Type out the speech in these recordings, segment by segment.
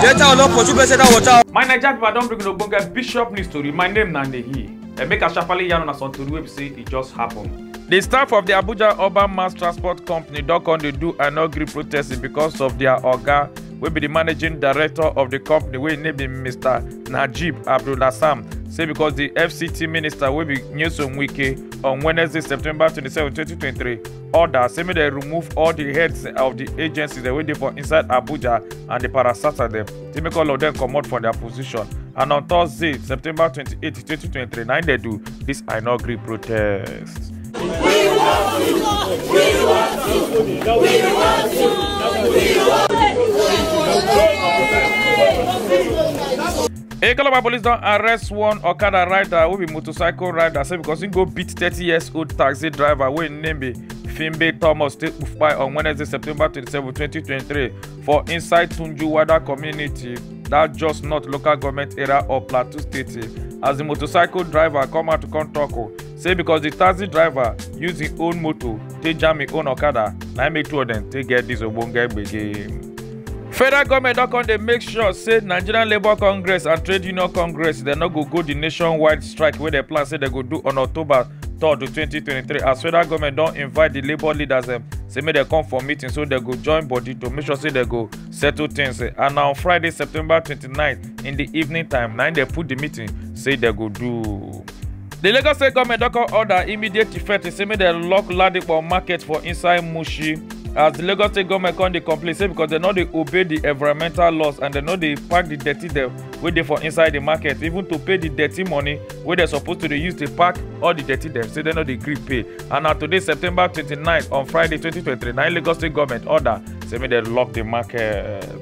Later on, up for two person that water. my naija pipo don bring una ogbonge bishop news tori my name na nehi emeka sharparly yarn una some tori wey be say e just happen. di staff of di abuja urban mass transport company don come dey do anogri protest because of dia oga wey be di managing director of di company wey im name be mr najib abdulhassan say because di fct minister wey be nyesom wike on Wednesday, September 27, 2023, order say make dem remove all the heads of the agencies dem wey dey for inside Abuja and the parasata dem to make all of them comot from their position. And on Thursday, September 28, 2023, na im dem do this I no gree protest. Ekalaba police don arrest one Okada rider wey be motorcycle rider say because he go beat 30 years old taxi driver wey im name be Fimbe Thomas take kpai on Wednesday, September 27, 2023 for inside Tunjuwada community, that just not local government area of Plateau State as the motorcycle driver come out to come talk o. say because the taxi driver use him own motor take jam him own okada na im make two of dem take get this ogbonge gbege. federal goment don come dey make sure say nigerian labour congress and trade union congress dem no go go di nationwide strike wey dem plan say dem go do on october 3rd 2023 as federal goment don invite di labour leaders dem say make dem come for meeting so dem go join body to make sure say dem go settle things and na on friday september 29 in di evening time na im dem put di meeting say dem go do. di lagos state goment don come order immediate effect say make dem lock ladipo market for inside mushi as di lagos state goment come dey complain say because dem no dey obey di environmental laws and dem no dey pack di dirty dem wey dey for inside di market even to pay di dirty money wey dem suppose to dey use dey pack all di dirty dem say dem no dey gree pay and na today september 29 on friday 2023 na lagos state goment order say make dem lock di market.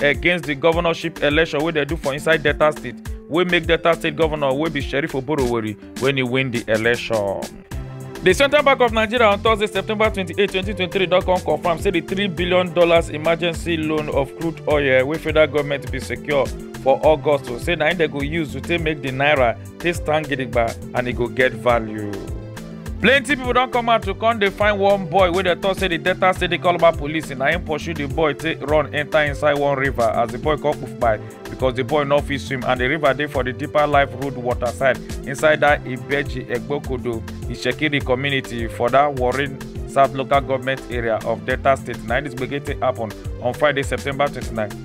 against di governorship election wey dem do for inside delta state wey make delta state governor wey be sheriff oborowori wen e win di election. di central bank of nigeria on thursday september 28 2023 don come confam say di $3 billion dollars emergency loan of crude oil wey federal goment bin secure for august say na im dem go use to take make di naira take stand gidigba and e go get value. plenty pipo don come out to come dey find one boy wey dem tok say di delta state dey call about police na im pursue di boy take run enta inside one river as di boy come poof by because di boy no fit swim and di river dey for di deeper life road water side inside dat ibeji egbokodo ishekiri community for dat warri south local government area of delta state na im dis gbege take happen on friday september 29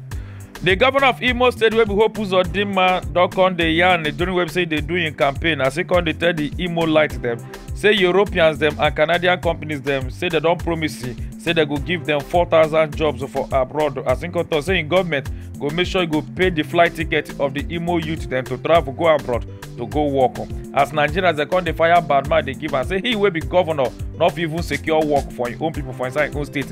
di govnor of imo state wey be hope uzodinma don come dey yarn during wey be say e dey do im campaign as e come dey tell di imo light dem say europeans dem and canadian companies dem say dem don promise e say dem go give dem 4000 jobs for abroad as im come tok say im goment go make sure e go pay di flight ticket of di imo youth dem to travel go abroad to go work as nigerians dem come dey fire badman dey give am say he wey be govnor no fit even secure work for im own pipo for inside im own state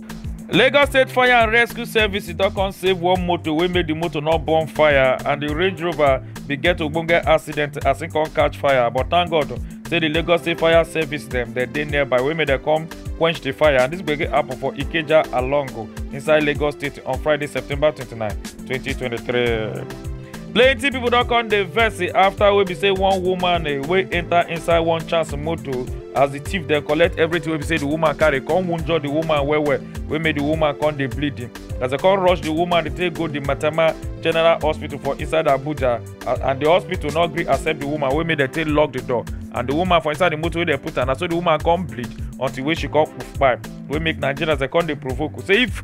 lagos state fire and rescue services don come save one motor wey make di motor no burn fire and di range rover bin get ogbonge accident as e come catch fire but thank god say di lagos state fire service dem dem dey nearby wey make dem come quench di fire and dis gbege happen for ikeja alongo inside lagos state on friday september 29 2023. plenty pipo don come dey vex afta wey be say one woman eh, wey enta inside one chance motor as di thief dem collect everything wey be say di woman carry come wunjure di woman well well wey make di woman come dey bleed as dem come rush di woman dey take go di matama general hospital for inside abuja and di hospital no gree accept di woman wey make dem take lock di door and di woman for inside di motor wey dem put her na so di woman come bleed until wey she come kpai wey make nigerians dem come dey provoke say if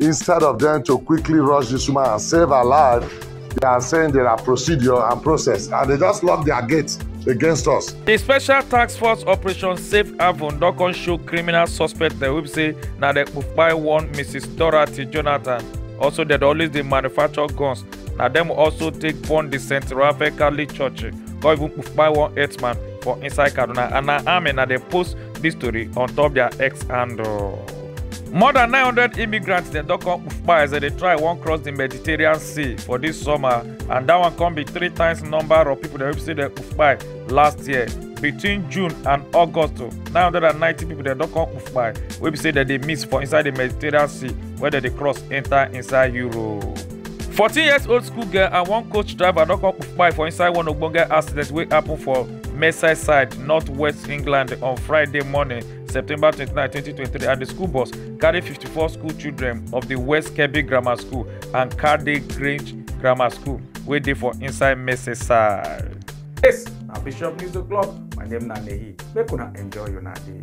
Instead of them to quickly rush this woman and save her life, they are saying there are procedure and process, and they just lock their gates against us. The special task force operation Safe Haven don come show criminal suspect dem wey be say na dem kpai one Mrs. Dorothy Jonathan. Also, dem dey always dey manufacture guns. Na dem also take burn the St. Raphael Catholic Church come even kpai one herdsman for inside Kaduna. And na army na dey post this story on top their X handle. more than 900 immigrants dem don come kpufkpa as dem dey try wan cross di mediterranean sea for dis summer and dat one come be three times number of pipo dem wey say dem kpufkpa last year between june and august 990 pipo dem don come kpufkpa wey be say dem dey miss for inside di mediterranean sea wey dem dey cross enta inside europe. 14 years old school girl and one coach driver don come kpufkpa for inside one ogbonge accident wey happun for merseyside north west england on friday morning. September 29, 2023, and the school bus carried 54 school children of the West Kebbi Grammar School and Cardiff Grange Grammar School, wey dey for inside Merseyside. Yes, na Bishop News O'Clock. My name na Nehi. Make una enjoy una day.